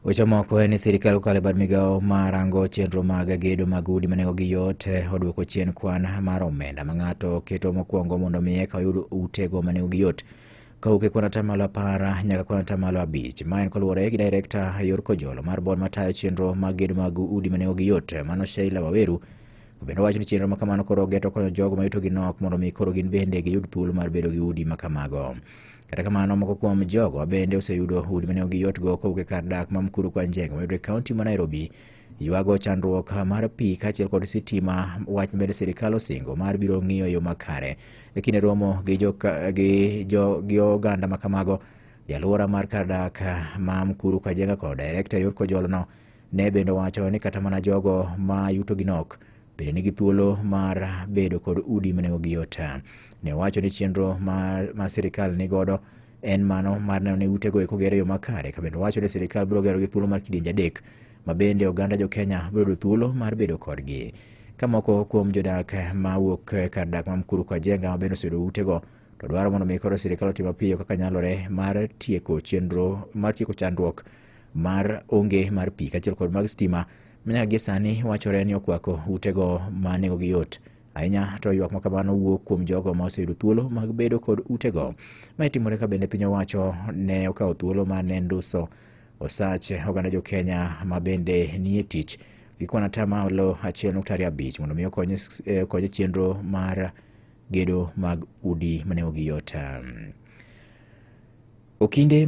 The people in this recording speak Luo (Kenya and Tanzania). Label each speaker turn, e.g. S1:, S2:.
S1: Weche moko en ni sirkal kokalo e bad migawo ma rango chenro mag gedo mag udi ma nengogi yot eh, oduoko chien kwan mar omenda ma ng'ato keto mokwongo mondo mi eka oyud utego ma nengogi yot kawuok e kwan atamalo apar nyaka kwan atamalo abich. Ma en koluwore gi direkta Yor Kojolo mar bod matayo chenro mag gedo mag udi ma nengogi yot eh, mano Sheila Waweru bende owacho ni chenro ma kamano koro geto konyo jogo ma yutogi nok mondo mi koro gin bende giyud thuolo mar bedo gi udi ma kamago. Kata kamano, moko kuom jogo bende oseyudo udi mane ok giyotgo kowuok e kar dak ma Mkuru kwa Njenga mayudore e kaunti ma Nairobi. Ywago chandruok mar pi kaachiel kod sitima wach mabende sirkal osingo mar biro ng'iyo yo makare. E kinde romo gi, jo, gi, jo, gi oganda ma kamago, jalwora mar kar dak ma Mkuru kwa Njenga kod direkta e yor kojolono ne bende owacho ni kata mana jogo ma yutogi nok bende nigi thuolo mar bedo kod udi ma nengogi yot. Ne owacho ni chenro ma, ma sirikal ni godo en mano mar neno ni utego eko gere yo makare ka bende owacho ni sirikal biro gero gi thuolo mar kidienje adek ma bende oganda jo Kenya biro yudo thuolo mar bedo kodgi. Ka moko kuom jodak ma wuok e kar dak ma Mkuru kwa Jenga ma bende oseyudo utego to dwaro mondo mi koro sirikal otim mapiyo kaka nyalore mar tieko chenro mar tieko chandruok mar onge mar pi kaachiel kod mag stima Nyaka gie sani wachore ni okwako utego ma nengogi yot ahinya to ywak ma kamano wuok kuom jogo ma oseyudo thuolo mag bedo kod utego. Mae timore ka bende piny owacho ne okawo thuolo ma ne nduso osach oganda jo Kenya ma bende nie tich gi kwan ata malo achiel nukta ariyo abich mondo mi okony s- eh, okony e chenro mar gedo mag udi ma nengogi yot. Okinde